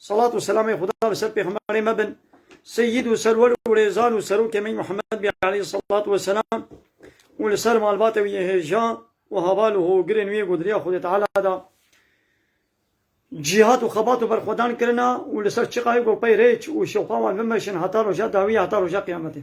Salat û selamê Xuda li ser pêxemberê me bin, seyyid û serwer û rêzan û serokê me Muhammed bê aleyh salat we selam û li ser malbate wî yê hêjan û haval û hogirên wî yê ku di riya Xwedê Teala de cîhat û xebat û berxwedan kirina û li ser çiqayê ku peyrêç û şewqa wan bimeşin heta roja dawiyê heta roja qiyametê.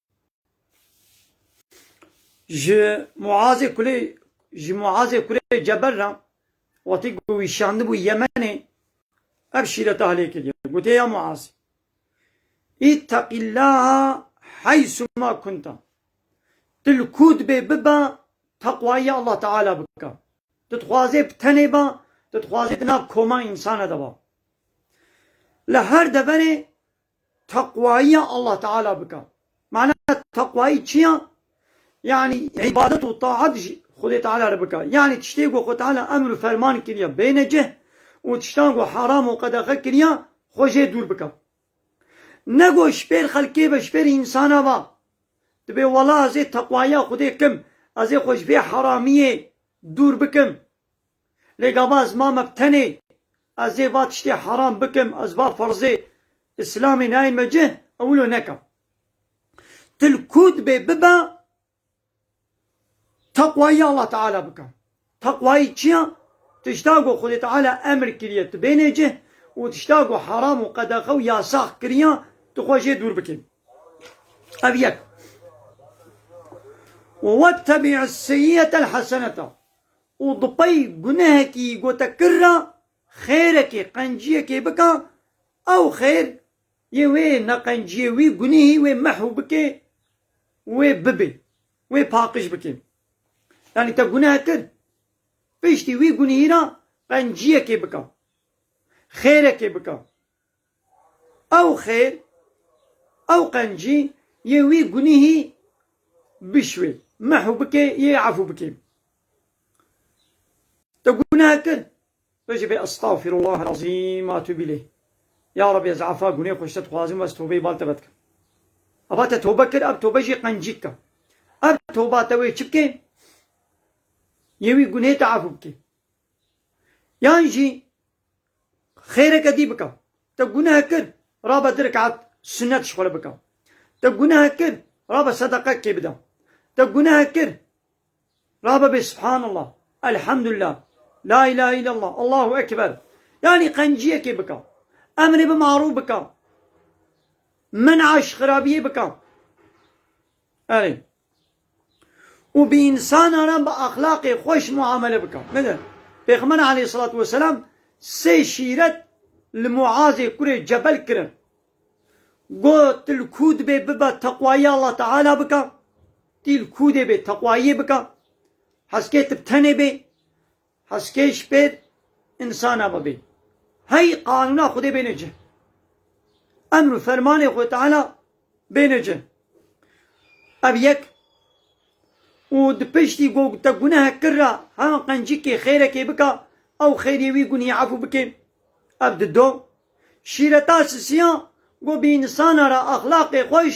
Ji Muazê Kulê ji Muazê Kurê Cebel re wextî ku wî şandibû Yemenê ev şîreta hilê kiriye. Gotiye ya Muaz Îtteqîllaha heysûma kunta. Tu li ku dibê bibe teqwayîya Allah Teala bike. Tu dixwazê bi tenê be, tu dixwazê di nav koma însanan de be. Li her deverê teqwayîya Allah Teala bike. Mana teqwayî çi ye? Yanî îbadet û taet ji Xwedê Teala re bike. Yanî tiştê ku Xwe Teala emr û ferman kiriye bêne cih û tiştan ku heram û qedexe kiriye xwe jê dûr bike. Ne ku ji pêr xelkê ve, ji pêr însanan ve dibê wela ez ê teqwayîya Xwedê kim, ez ê xwe ji vê heramiyê dûr bikim. Lê gava ez mame bi tenê, ez ê va tiştê heram bikim, ez va ferzê Îslamê nayên me cih, ew wilo neka. Tu li ku dibê bibe teqwayî ya Allah Teala bike. Teqwayî çi ya? Tişta ku Xwedê Teala emr kiriye tu bênê cih û tişta ku heram û qedexe û yasax kiriye tu xwe jê dûr bikî. Ev yek. Û wettebî'is seyyi'etel hesenete û bi pey gunehekî gote kir re xêrekê qenciyekê bike ew xêr yê wê neqenciyê wî gunehî wê mehu bike û wê bibe wê paqiş bike yanî te guneh kir piştî wî gunehî re qenciyekê bike xêrekê bike. Ew xêr, ew qencî yê wî gunîhî bişwê, mehu bikê yê efû bikê. Te guneh kir? Tu jî bê estağfirullahel azîm a tûbî lê. Ya Rabbî ez efa gunê xwe ji te dixwazim û ez tobeyê bal teve dikim. Eva te tobe kir, ev tobe jî qencî dike. Ev toba te wê çi bikê? Yê wî gunê te efû bikê. Yan jî Xêreke dî bike. Te guneh kir, rabe du rikaet sunet ji xwe re bike. Te guneh kir, rabe sedeqek kê bide. Te guneh kir, rabe bê Subhanallah, Elhamdulillah, La ilahe illallah, Allahu Ekber. Yanî qenciyekê bike. Emrê bi marûf bike. Men'a ji xirabiyê bike. Erê. û bi însanan re bi exlaqê xweş muamele bike. Pêxember aleyhîsselatû weselam sê şîret li Muazê kurê Cebel kirin. Got, Tu li ku dibê bibe teqwayî Allah Teala bike? Tî li ku dê bê teqwayîyê bike? Heskê tu bi tenê bê? Heskê ji pêr însan e bibîn. Hey qanûna Xwedê bêne cih. Emr û fermanê Xwedê Teala bêne cih. Ev yek û di piştî ku te gunehek kir re heman qencîkê xêrekê bike ew xêrî wî gunhî efû bike. Ev di do şîreta sisiya ku bi însana re exlaqê xweş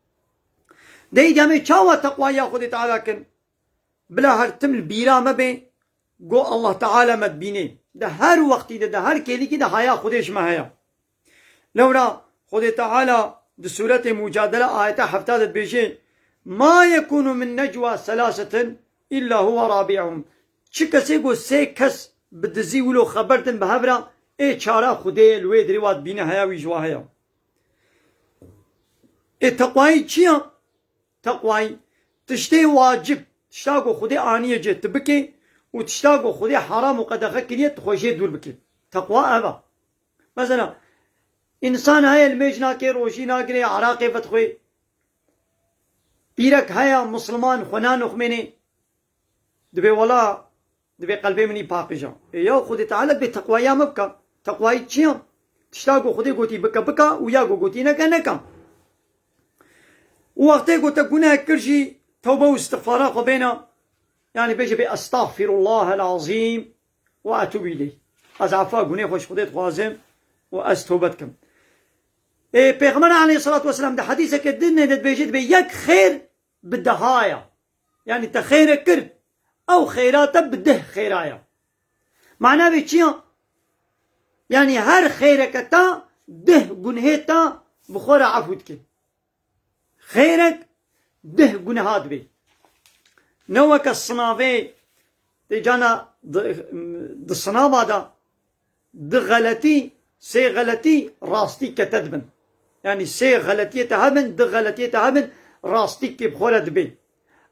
Dêy demê çawa teqwaya Xwedê Teala kin? Bila her tim li bîra me bê ku Allah Teala me dibînê. Di her wextî de, di her kêlikî de haya Xwedê ji me heye. Lewra Xwedê Teala di sûretê Mucadele ayeta hefta de dibêje, Ma yekûnu min necwa selasetin îlla huwe rabî'uhum Çi kesê ku sê kes bi dizî wilo xeber din bi hev re, ê çara Xwedê ye li wê dirê wa dibîne heya wî ji wa heye. Ê teqwayî çi ya? Teqwayî tiştê wacib, tişta ku Xwedê aniye cih tu bikê û tişta ku Xwedê heram û qedexe kiriye tu xwe jê dûr bikî. Teqwa ev e. Mesela însan heye nimêj nake, rojî nagire, eraqê vedixwe. Îrek heye misliman xwe nanoxmêne. Dibê wela Divê qelbê min î paqija. Ê ya Xwedê Teala divê teqwaya me bika. Teqwayî çi ya? Tişta ku Xwedê gotî bike bika û ya ku gotî neke neka. Û wextê ku te gunehek kir jî tewbe û îstixfara xwe bêne yanî bêje bê Estexfîrullahel azîm ve etûbû îleyh. Ez efa gunê xwe ji Xwedê dixwazim û ez tewbe dikim. Ê Pêxember Eleyhisselatu Vesselam di hedîsekê din de dibêje divê yek xêr bi dehaya yanî te xêrek kir ew xêra te bi deh xêra ye. Mana vê çi ya? Yanî her xêreke te deh gunhê te bi xwe re efû dike. Xêrek deh gunha dibe. Ne weke sinavê tê cana di sinava de Du xeletî, sê xeletî rastî ke te dibin. Yanî sê xeletiyê te hebin, du xeletiyê te hebin rastî kê bi xwe re dibê.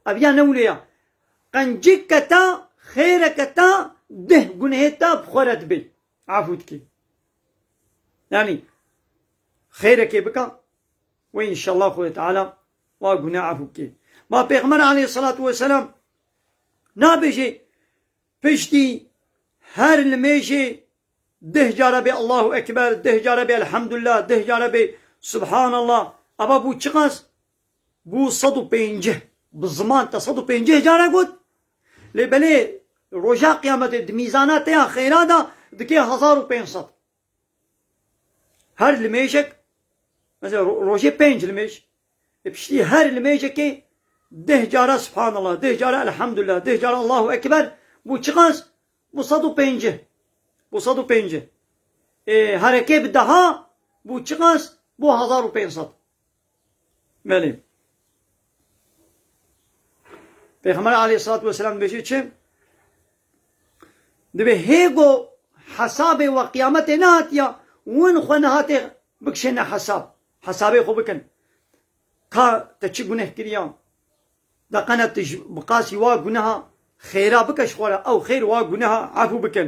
Ev ya ne wile ya. Qencik ke ta, xêre ke ta, duh gunehê ta bi xwe re dibê. Efû dikê. Yanî xêrekê bika wê înşellah Xwedê Teala wa guneh efû bikê. Ma Pêxember aleyhîsselatu weselam nabêjê Piştî her nimêjê deh care bê Allahu Ekber, deh care bê Elhamdulillah, deh care bê Subhanallah. Ava bû çiqas? Bû sed û pênceh. Bi ziman te sed û pênceh care got. Lê belê roja Qiyametê di mîzana te ya xeyra de dikê hezar û pênc sed. Her limêjek mesela rojê pênc limêj li piştî her limêjekê deh cara Subhanallah, deh cara Elhamdulillah, deh cara Allahu Ekber bû çiqas bû sed û pêncî. Bû sed û pêncî. Ê herekê bi deha bû çiqas bû hezar û pênc sed. Belê. Pêxember aleyhissalatu vesselam dibêje çi? Dibê hêgo hesabê we qîyametê nehatiya win xwe nehatê bikişêne hesab. Hesabê xwe bikin. Ka te çi guneh kiriya? Da qene tu bi qasî wa guneha xêra bike ji xwe re ew xêr wa guneha efû bikin.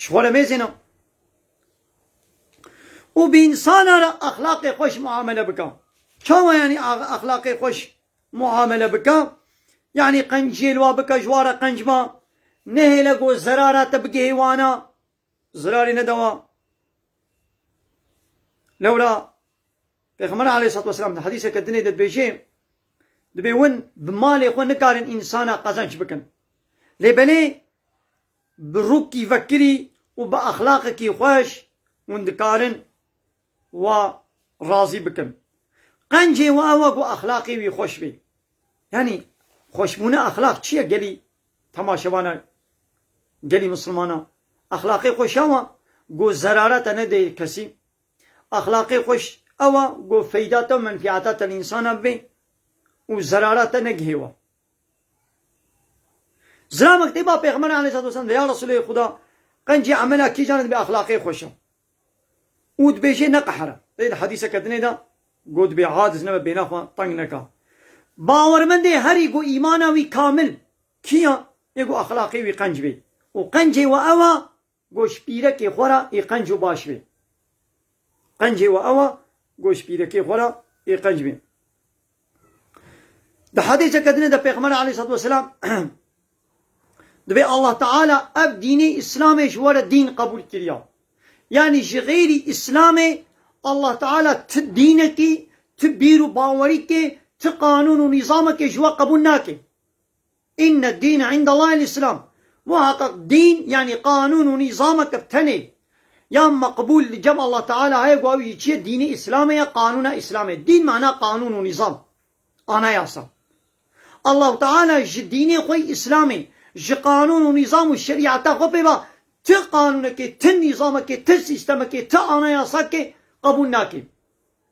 Ji xwe re mêzêne û bi însanan re exlaqê xweş muamele bike. Çawa yanî exlaqê xweş muamele bike? Yanî qenciyê li wan bike ji wan re qenc ma, nehêle ku zerara te bigihê wan a, zirarê nede wan. Lewra Pêxember aleyhissalatu vesselam di hedîseke dinê de dibêje, Dibê win bi malê xwe nikarin însana qezenç bikin. Lê belê bi rûkî vekirî û bi exlaqekî xweş win dikarin wa razî bikin. Qencê we ew e ku exlaqê wî xweş bê. Yanî xweşbûna exlaq çi ye gelî temaşevana gelî misilmanan? Exlaqê xweş ew e ku zerarete nedê kesî. Exlaqê xweş ewa ku feydata û menfîata te li însanan bibe û zerara te negihê wan. Zira mekteba Pêxember aleyhissalatu vesselam de ya Resûlê Xuda qencî emela kîjan e dibe exlaqê xweş e û dibêje neqehre. Lê di hedîseke dinê de got dibe aciz nebe bêhna xwe teng neka. Bawermendê herî ku îmana wî kamil kî ya yê ku exlaqê wî qenc bê û qencê we ewa Goşpîrekê xwe ra ê qenc û baş bê. Qencê we ew a, goşpîrekê xwe ra ê qenc bê. Di hedîseke dinê de Pêxember aleyhissalatu vesselam dibê Allah Teala ev dînê Îslamê ji we re dîn qebûl kiriya. Yanî ji xêrî Îslamê Allah Teala ti dînekî, ti bîr û bawerîkê, ti qanûn û nîzamekê ji we qebûl nake. Inne dîne indellahil îslam, Muheqeq dîn yanî qanûn û nîzamek ev tenê ya meqbûl li cem Allah Teala heye ku ew jî çi ye dînê îslamê ye, qanûna îslamê. Dîn mana qanûn û nîzam, anayasa. Allah Teala ji dînê xwe îslamê, ji qanûn û nîzam û şerîeta xwe pê ve ti qanûnekê, ti nîzamekê, ti sîstemekê, ti anayasakê qebûl nake.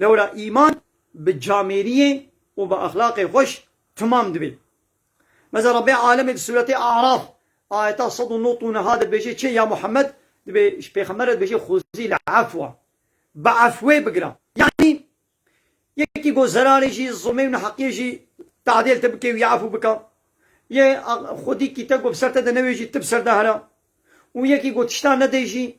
Lewra îman bi camêriyê û bi exlaqê xweş timam dibê. Meza Rebbê Alemê di sûretê Araf ayeta sed û not û niha de dibêje çê, Ya Muhemmed, dibê ji pêxember re dibêje xwezî li efwa, bi efwê bigira. Yanî yekî got zerarê jî, zulmê û neheqiyê jî te'dêl te bike û yê efw bika. Yê xwedîkî te got bi ser te de newêjî, tu bi ser de hera. Û yekî got tiştan nedê jî,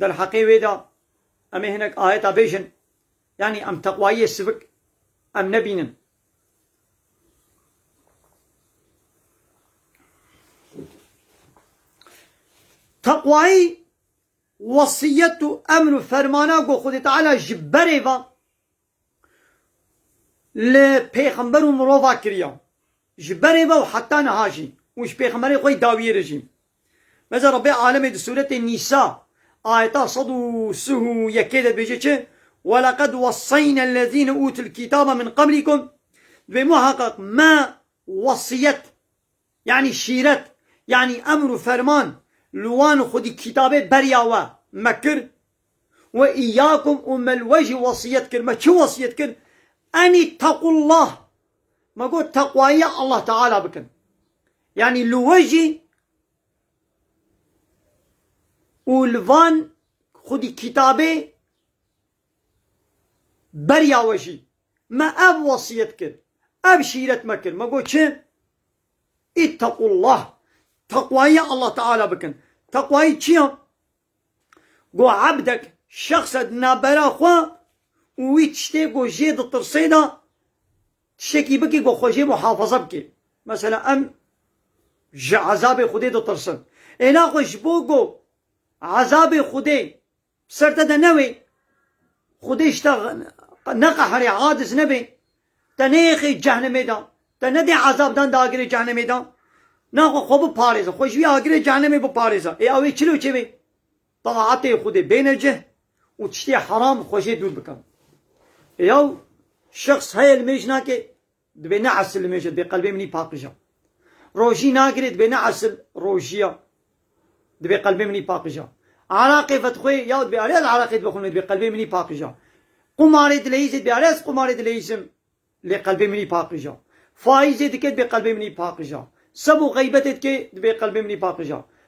Derheqê wê de em ê hinek ayeta bêjin, yanî em teqwayiyê sivik em nebînin. Teqwayî wesiyet û emr û fermana ku Xwedî Teala ji berê ve. Li pêxember û mirova kiriya. Ji berê ve û heta niha jî û ji pêxemberên xwe yî dawiyê re jî. Beze Rebbê alemê di sûretê Nîsa ayeta sed û sih û yekê de dibêje çi, Welaqed wesseyna ellezîne ûtul kîtabe min qeblîkum, dibê muheqeq me wesiyet, Yanî şîret, yanî emr û ferman li wan xwedî kîtabê beriya we me kir, we îyâkum û me li we jî wesîyet kir, me çi wesîyet kir? An îtteqûllah, me got teqwayîya Allah Teala bikin. Yanî li we jî û li van xwedî kîtabê Beriya we jî me ev wesiyet kir, ev şîret me kir, me got çi? Îttequllah, teqwayîya Allah Teala bikin. Teqwayî çi ya? Ku ebdek, şexse di navbera xwe û wî tiştê ku jê ditirsê de tiştekî bikê ku xwe jê muhafaza bikê. Mesela em ji ezabê Xwedê ditirsin. Êna xwe ji bo ku ezabê Xwedê Ser te de newê Xwedê ji te neqeherê aciz nebe, te neyêxê cehnemê de, te nedê ezab dan di agirê cehnemê de, naxwe xwe biparêze, xwe ji wî agirê cehnemê biparêze. Ê ewê çilo çêbê? Taatê Xwedê bêne cih û tiştê heram xwe jê dûr bikin. Ê ew şexs heye li mêj nake Dibê ne esil nimêje dibê qelbê minî paqija. Rojî nagirê dibê ne esil rojiya dibê qelbê minî paqija. Araqê vetxwê yaw dibê erê ez araqê dibixwimê dibê qelbê minî paqija. Qumarê dileyîzê dibê erê ez qumarê dileyîzim lê qelbê minî paqija. Faîzê dike dibê qelbê minî paqija. Seb û xeybetê dike dibê qelbê minî paqija.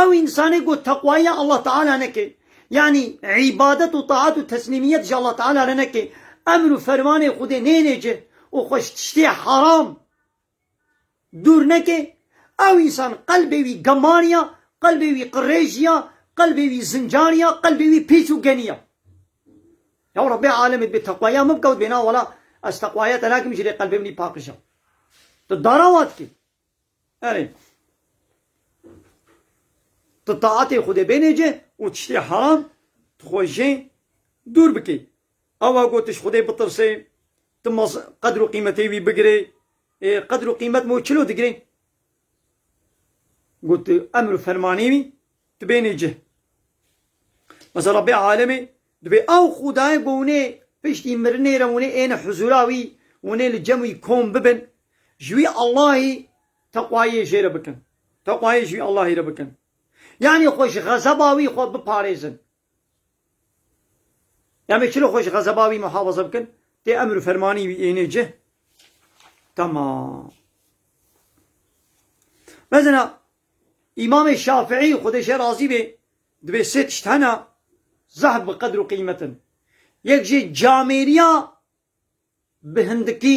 Ew însanê ku teqwayîya Allah Teala neke, yanî îbadet û taat û teslîmiyet ji Allah Teala re neke, emr û fermanê Xwedê nêne cih û xwe ji tiştê heram dûr neke, ew însan qelbê wî gemarîya, qelbê wî qirêjîya, qelbê wî zincarîya, qelbê wî pîç û genîya. Ya Rebbê Alemê dibê teqwayîya min bikewt bêhna wela ez teqwayîya te nakim jilê qelbê min î pakija. Tu dara wa dikî. Erê. Tu taetê Xwedê bênê cih û tiştê heram tu xwe jê dûr bikî. Awa ku tu ji Xwedê bitirsê, tu maz qedr û qîmetê wî bigirê, ê qedr û qîmet me wî çilo digirê? Ku tu emr û fermanê wî tu bênê cih. Mesela bê alemê Dibê ew xwedayê ku hûnê piştî mirinê re hûnê êne huzûra wî, hûnê li cem wî kom bibin, ji wî Allahî teqwayê jê re bikin. Teqwayê ji wî Allahî re bikin. Yanî xwe ji xezeba wî xwe biparêzin. Em ê çilo xwe ji xezeba wî muhafaza bikin? Tê emir û fermanî wî ênê cih. Tamam. Mezena Îmamê Şafîî xwedê ji razî bê Divê sê tişt hene zehf bi qedr û qîmet in. Yek jî camêriya bi hindikî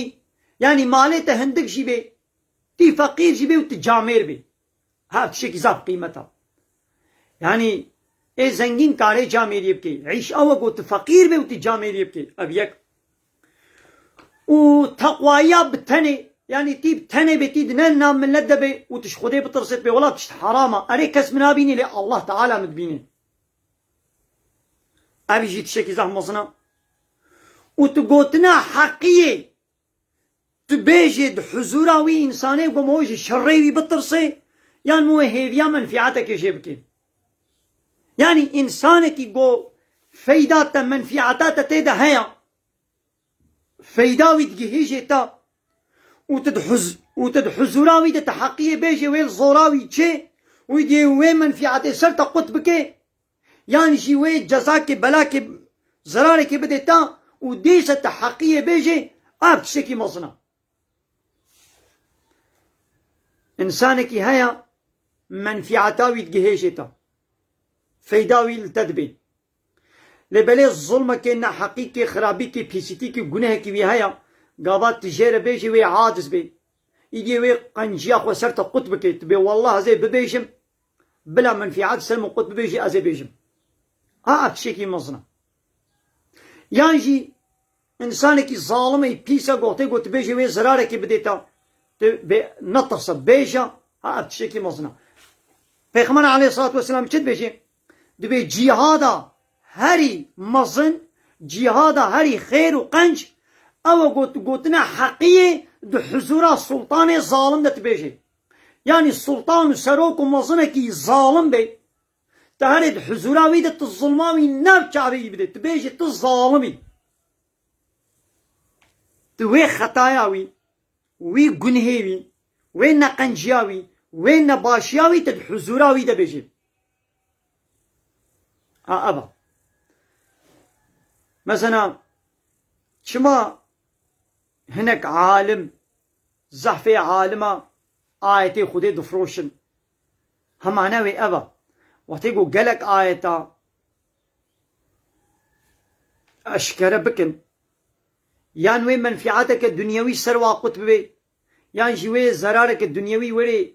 yanî malê te hindik jî bê, tî feqîr jî bê û tu camêr bî her tiştekî zehf qîmet e. Yanî ê zengîn karê camêriyê bikê, îş ew e ku tu feqîr bê û tu camêriyê bikê. Ev yek. Û teqwaya bi tenê, yanî tî bi tenê bê, tî di ne nav milet de bê û tu ji Xwedê bitirsê, pêwala tişt heram a. Erê kes min nabînî lê Allah Teala min dibînê. Ev jî tişekî zehmezin a. Û tu gotina heqî yê Tu bêjê di huzûra wî însanê ku em wê ji şerê wî bitirsê yan em wê hêviya menfîetekê jê bikin. Yanî însanekî ku feyda te, menfîeta te tê de heye, feyda wî digihîjê te û tu û tu di huzûra wî de ti heqiyê bêjê wê li zora wî çê û yê wê menfîetê ser te qut bikê, yan jî wê cezakê belakê zirarekê bidê ta û dîsa te heqiyê bêjê ev tiştekî mezin e. Însanekî heye menfîeta wî digihêjê te, feyda wî li te dibê. Lê belê zilmekê, neheqîkê, xirabîkê, pîsîtîkê, gunehekî wî heye gava tu jê re bêjî wê aciz bê. Îdî wê qenciya xwe ser te qut bike, tu bê welleh ez ê bibêjim Bila menfîat ser min qut bibêjî ez ê bêjim. A ev tişekî mezin e. Yan jî însanekî zalim ê pîs e gohtê ku tu bêjî wê zirarekê bidê te tu bê netirse bêje ha ev tişekî mezin e. Pêxember aleyhissalatu vesselam çi dibêjê? Dibê cîhada herî mezin, cîhada herî xêr û qenc ew e ku tu gotina heqî yê di huzûra sultanê zalim de tu bêjê. Yanî sultan û serok û mezinekî zalim bê, tu herê di huzûra wî de tu zilma wî nav çavê wî bidê, tu bêjî tu zalim î. Tu wê xetaya wî, wî gunhê wî, wê neqenciya wî, wê nebaşiya wî tu di huzûra wî de bêjî. A ev e. Mezena çima hinek alim Zehfê alima ayetê Xwedê difiroşin. Hemane wê ev e. Wextê ku gelek ayeta eşkere bikin, yan wê menfîateke dunyewî ser wa qut bibe, yan jî wê zerareke dunyewî were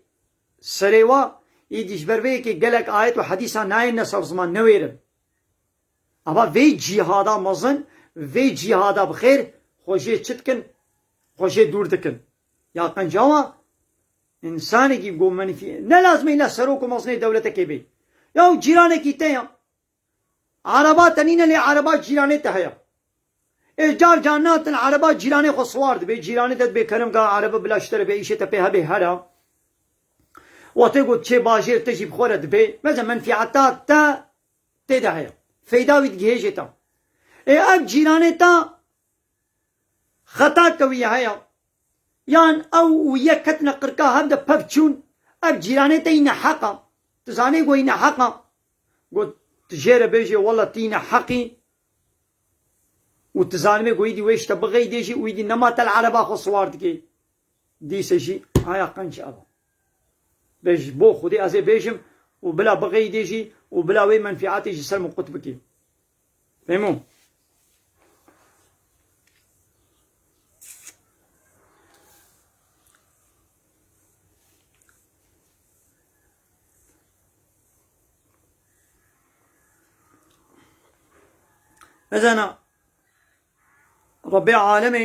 serê wa, îdî ji ber vê yekê gelek ayet û hedîsan nayêne ser ziman, newêrin. Ava vê cîhada mezin, vê cîhada bi xêr xwe jê çi dikin? Xwe jê dûr dikin. Ya qencawa însanekî ku min ne lazim e îlla serok û mezinê dewletekê bê. Ya cîranekî te ya. Ereba te nîne lê ereba cîranê te heye. Ê car car natin ereba cîranê xwe siwar dibê, cîranê te dibê kelim ka erebe bila ji te re bi îşê te pê hebê here. We tê got çê bajêr te jî bi xwe re dibê. Mesela menfîeta te Tê de heye. Feyda wî digihêjê ta. Ê ev cîranê ta xeta ke wî ye heye. Yan ew û yek ketine qirka hev de pev çûn. Ev cîranê te yî neheq a. Tu zanê ku yî neheq a. Got tu jê re bêjê wela tu yî neheq î û tu zanibê ku îdî wê şte bixeyidê jî û îdî nema te li ereba xwe siwar dikê. Dîse jî aya qenc ev e. Bê ji bo xwedê ez ê bêjim û bila biqeydê jî û bila wê menfîatê ji ser min qut bikê. Fêmo. Mezana Rabbê alemê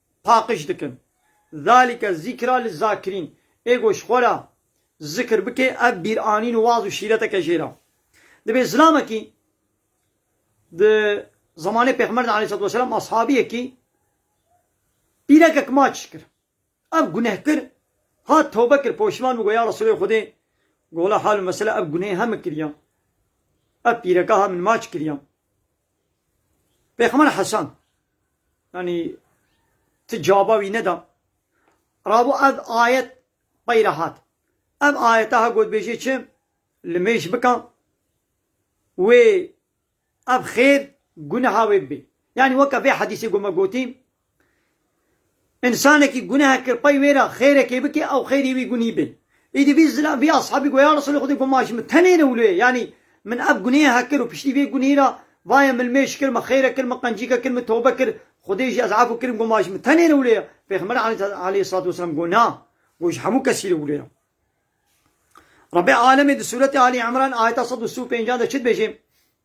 paqij dikin. Zalike zikra lizakirîn, ê goş xwe re zikr bike, ev bîranîn û waz û şîretek e jêra. Divê zilamekî di zemanê Pêxember de aleyhîssalatu weselam ashabiyekî pîrekek maç kir. Ev guneh kir, hat tewbe kir, poşiman bû got, Ya Resûlê Xwedê, gola hal û mesele ev gunehê he min kiriya. Ev pîreka he min maç kiriya. Pêxember Hesan yani ti cevaba wî neda. Rabo ev ayet peyre hat. Ev ayete ha gotbêjê çi li mêj bika wê ev xêr guneha wê bibê. Yani weke vê hedîsê ku me gotî Însanekî guneh kir pey wê re xêrekê bike ew xêrî wî gunî be. Îdî vî zilam vî eshabî goya Resûlê Xwedê got ma ji min tenê ne wilo ye yanî min ev gunêhe kir û piştî vê gunî re vaye min mêş kir, min xêre kir, min qencîke kir, min tobe kir, Xwedê jî ez efû kirim got ma ji min tenê ne wilo ye. Pêxember aleyhissalatu vesselam got na, got ji hemû kesî re wilo ye. Rebê alemê di sûretê Alî Îmran ayeta sed û sî û pêncî de çi dibêje?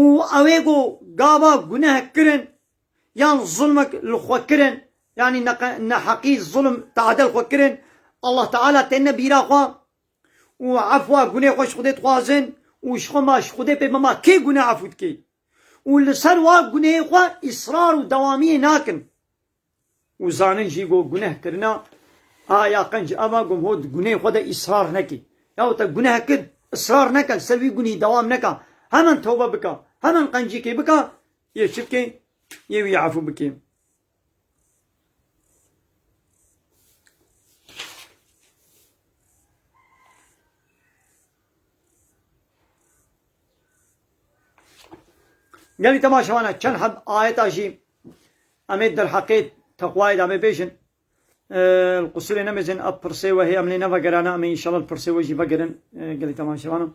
û ew ê ku gava guneh kirin yan zulmek li xwe kirin yanî neheqî zulm tade li xwe kirin Allah Teala têne bîra xwe û efwa gunê xwe ji Xwedê dixwazin û ji xwe ma ji Xwedê pê bima kê guneh efû dikê û li ser wa gunehê xwe îsrar û dewamiyê nakin. Û zanîn jî ku guneh kirina a ya qenc ev a ku hûn di gunehê xwe de îsrar nekî. Yaw te guneh kir, îsrar neke, li ser wî gunî dewam neke. Hemen tewbe bike, hemen qencîkê bike, yê çi bikê, yê wî efû bikê. Gelî temaşevan e çend heb ayeta jî em ê derheqê teqwayê de bê bêjin. Li qusirê nemêjin ev pirsê we hê em lê nevegerane em ê înşallah li pirsê we jî vegerin gelî temaşevanan.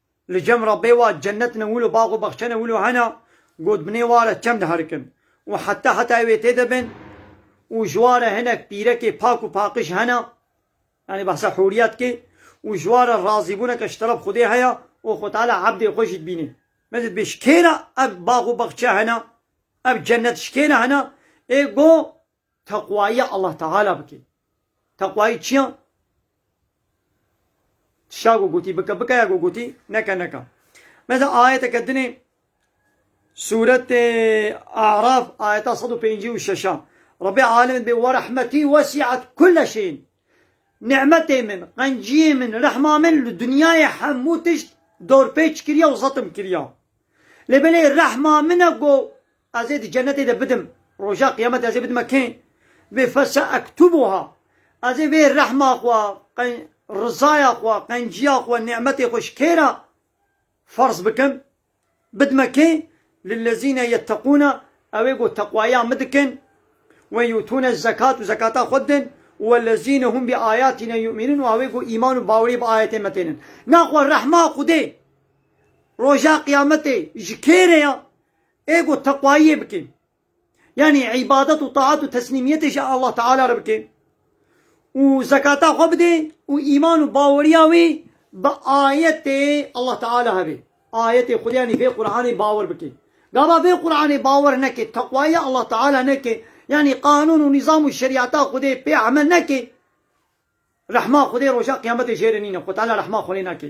Li cem re bê wa cennet ne wilo bax û baxçe ne wilo hene, gotbinê wa re çem diherikin û heta heta ew ê têde bin û ji wa re hinek pîrekê pak û paqij hene, yanî behsa hûriya dike û ji wa re razîbûneke ji teref Xwedê heye û Xwe Teala ebdê xwe jî dibîne. Min dibê ji kê re ev bax û baxçe hene, ev cennet ji kê re hene? Ê got, Teqwayîya Allah Teala bike. Teqwayî çiya? Tişa ku gotî bike bike ya ku gotî neke neka. Mesela ayeteke dinê Sûretê A'raf ayeta sed û pêncî û şeş a Rebbê Alim bê we rehmetî wesî'et kule şeyin. Ni'metê min, qenciyê min, rehma min li dinyayê hemû tişt dorpêç kiriye û zetim kiriye. Lê belê rehma min e ku Ez ê di cenetê de bidim. Roja qiyamete ez ê bidime kê? Vê fese ektubuha. Ez ê vê rehma xwe, rizaya xwe, qenciya xwe, nimetê xwe ji kê re ferz bikim? Bidime kê? Lillezîne yetteqûne, ew ê ku teqwaya min dikin, we yûtûne zekat û zekata xwe didin, û wellezîne hûm bi ayatîne yûmînûn û ew ê ku îman û bawerî bi ayetên me tênin. Naxwe rehma Xwedê roja qiyametê ji kê re ye? Ê ku teqwayiyê bikê, yanî îbadet û taat û teslîmiyetê ji Allah Teala re bikê û zekata xwe bidê û îman û baweriya wî bi ayetê Allah Teala hebe, ayetê Xwedê yanî vê Quranê bawer bikê. Gava vê Quranê bawer neke, teqwayiya Allah Teala neke, yanî qanûn û nîzam û şerîata Xwedê pê emel neke, rehma Xwedê roja qiyametê jê re nîne, Xwe Teala rehma xwe lê nake.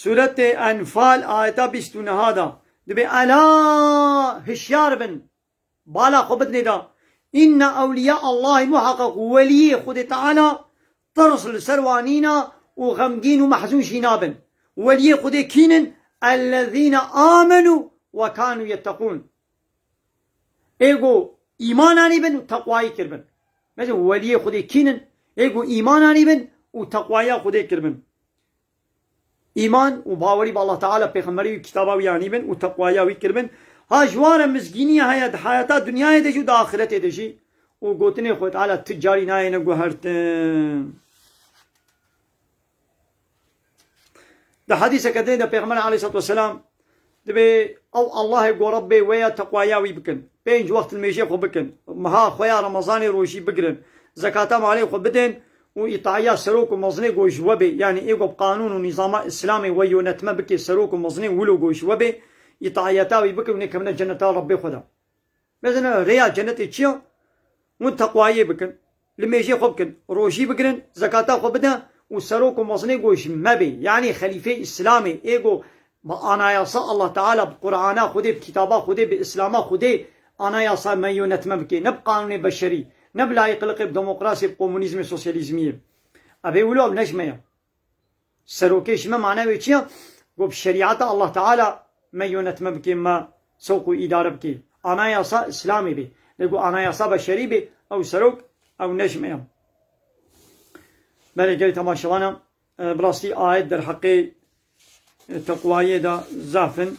Sûretê Enfal ayeta bîst û niha de dibê Ela! Hişyar bin! bala xwe bidinê de Inna ewlîya Allahî muheqeq û welîyê Xwedê Teala tirs li ser wan nîne û xemgîn û mehzûn jî nabin. Welîyê Xwedê kîn in? Ellezîne âmenû we kânû yetteqûn. Ê ku îman anîbin û teqwayî kiribin. Bejin, welîyê Xwedê kîn in? Ê ku îman anîbin û teqwaya Xwedê kiribin. Îman û bawerî bi Allah Teala, Pêxemberê wî û kitaba wî anî bin û teqwaya wî kir bin, ha ji wan re mizgîniyê heye di heyata dinyayê de jî û di axiretê de jî û gotinên Xwê Teala tu carî nayêne guhertin. Di hedîseke din de Pêxember Aleyhîsselatu Weselam Divê ew Allahê gora bê wê ya teqwaya wî bikin, pênc wext nimêjê xwe bikin, meha xwe ya remezanê rojî bigirin, zekata malê xwe bidên û îtaiya serok û mezinê ku ji we bê, yanî ê ku bi qanûn û nîzama îslamê weyonetme bike serok û mezinê wilo ku ji we bê, îtaiyeta wî bikin û nêkevine ceneta Rebbê xwe de. Mezana rêya cenetê çi ya? Hûn teqwayê bikin, li mêjê xwe bikin, rojî bigirin, zekata xwe bidin û serok û mezinê ku ji me bê, yanî xelîfeyê îslamê ê ku bi anayasa Allah Teala, bi Qur'ana Xwedê, bi kitaba Xwedê, bi îslama Xwedê anayasa me yonetme bike, ne bi qanûnê beşerî, ne bi layîqiliqê, bi demokrasiyê, bi komûnîzmê, sosyalîzmiyê. Ev ê wilo ev ne ji me ye. Serokê ji me mane wê çi ya? Got bi şerîata Allah Teala me yonetme bikê, me sewq û îdare bikê. Anayasa Îslamê bê. Lê ku anayasa beşerî bê, ew serok, ew ne ji me ya. Belê gelê temaşevanan, bi rastî ayet derheqê teqwayiyê de zaf in.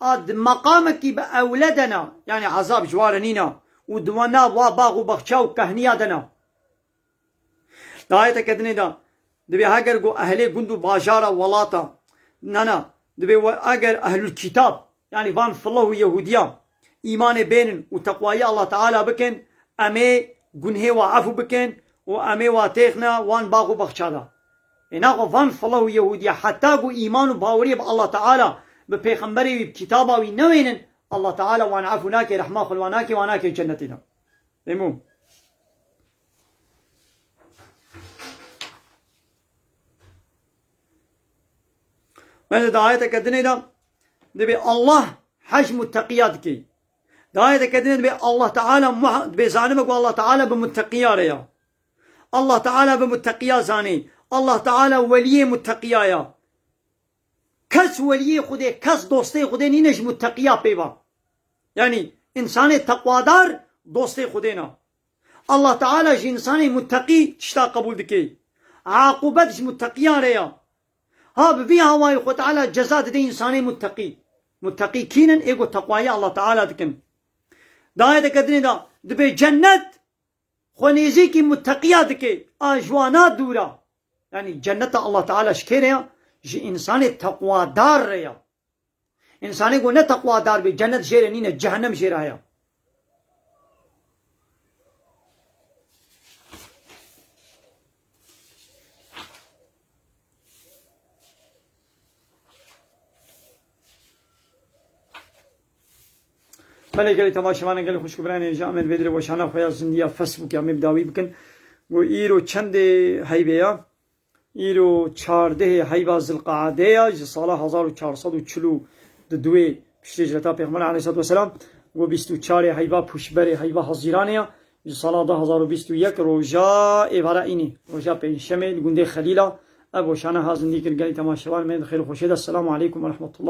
A di meqamekî bi ewle de ne, yanî ezab ji wa re nîne û di wan nav wa bax û baxça û kehniya de ne. Di ayeteke dinê de dibê heger ku ehlê gund û bajara welata, ne ne, dibê eger ehlulkîtab, yanî van filah û yehûdiyan, Îmanê bênin û teqwayî Allah Teala bikin, emê gunhê wa efû bikin û emê wa têxne wan bax û baxça da. Ê naxo van fılah û yehûdîye heta ku îman û bawerîyê bi Allah Teala, bi pêxemberê wî, bi kitaba wî newênin, Allah Teala wan efû nakê, rehma xwe li wan nakê, wan nakê cennetê da. Ê mûm. Bence de ayeteke dinê de dibê Allah hecm û teqiya dikey. Di ayeteke dinê dibê Allah Teala dibê zanime ku Allah Teala bi muteqiya re ya. Allah Teala bi muteqiya zanê. Allah Teala weliyê muteqiya ya. Kes weliyê Xwedê, kes dostê Xwedê nîne ji muteqiya peyva. Yanî insanê teqwadar dostê Xwedê na. Allah Teala ji însanê muteqî tişta qebûl dike. Aqûbet ji muteqiyan re ya. Ha bi vî awayî Xwe Teala ceza dide însanê muteqî. Muteqî kîn in? Ê ku teqwayî Allah Teala dikin. Di ayeteke dinê de dibe cennet xwe nêzîkî muteqiya dike, a ji wan a dûr a. Yanî cenneta Allah Teala ji kê re ya? Ji însanê teqwadar re ya. Însanê ku ne teqwadar bê cenet jê re nîne cehenem jê re heye. Belê gelê teva şivanan gelê xwişk û biranê ji Amed Bêdirê weşana xwe ya zindiya Facebookê ya me bi dawî bikin. Got îro çendê heyvê ya Îro çardehê heyva Zilqeadê ye ji sala hezar û çar sed û çil û di duê piştê hicreta Pêxember aleyhisselatü vesselam ku bîst û çarê heyva pûşberê heyva Hezîranê ye ji sala du hezar û bîst û yek roja êvara înê roja pêncşemê li gundê Xelîla ev weşane ha zindî kir gelê temaşevan me di xêr û xweşê de Selamu aleykum werehmetullah.